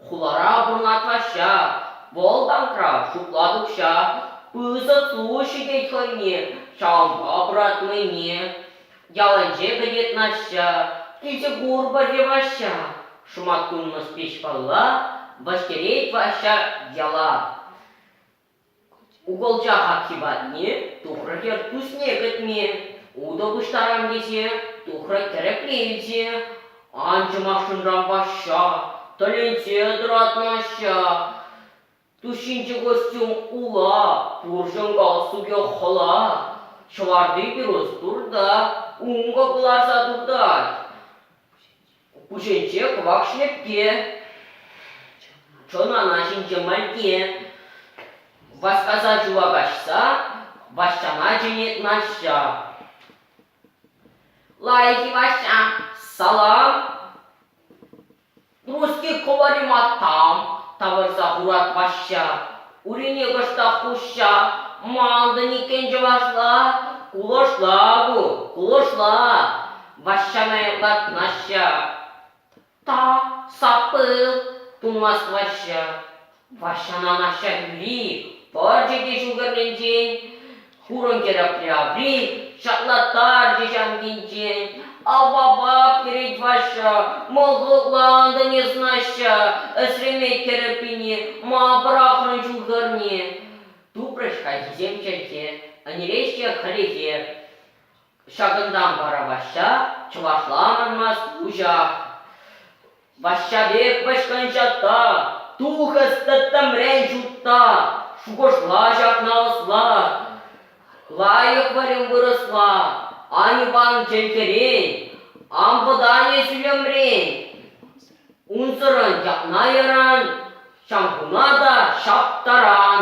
Хулара вырнаҫаҫҫӗ, вӑлтанра шутлать укҫа, пысӑк ту-ҫитет хӑйне ҫавӑнпа пӑратнине. Ялӗнче кӗтет Наҫҫа, килсе курпӑр те Ваҫҫа, шӑматкунлӑ спичкӑлла, вӗҫтерет Ваҫҫа яла. Укӑлча хакхи патне тухрӗ хӗр куҫне кӗтме. Утӑ пуҫтарам тесе тухрӗ тӗрекле илсе. Анчӑмахшӑнран Ваҫҫа тӗлӗнсе тӑратмаҫҫӗ. Тушинчи костюм ула, пурҫӑн галстукӗ хӑла. Ҫӑварни пирус пурта, ункӑ кӑларса туртать. Пуҫӗнче кӑвак шлепке, тӑнана ҫинче мантне. Васкаса ҫула каҫса Ваҫҫана чӗнет Наҫҫа. Лайӑх-и, Ваҫҫа, салам. Нуски кӑвариматам, тавӑрса хурать Ваҫҫа. Урине кӑштах хушса, Мантӑн иккен чӑвашла. Кулӑшла ку, кулӑшла. Ваҫҫана эрлат Наҫҫа. Та, сапыл, тумасть Ваҫҫа. Ваҫҫана Наҫҫа юри пӑрчӗ те ҫул хӗрринчен, хурӑнкерӗ апри-абри ҫатлаттарчӗ ҫамкинчен. Ап-ап-ап, йӗрет Ваҫҫа, мӑлкӑллантӑн эс, Наҫҫа, ӗсреме кӗрӗп пине, ма пӑрахрӑн ҫул хӗрне? Тупрӗҫ хайхисем чӗлхе, ӗнереҫҫӗ хӗлӗхе. Ҫакӑнтан вара Ваҫҫа чӑвашла анӑрмасть уҫах: «Ваҫҫа пек вӑйшкӑнҫатта, тухӑс тӗттӗмрен ҫутта, шухӑшла ҫакна ӑсла, лайӑх вӗрем вырӑсла, ан иван чӗлхерен, ан вӑтане сӳлӗмрен, унсӑрӑн ҫакна яран, ҫамкуна та ҫаптаран».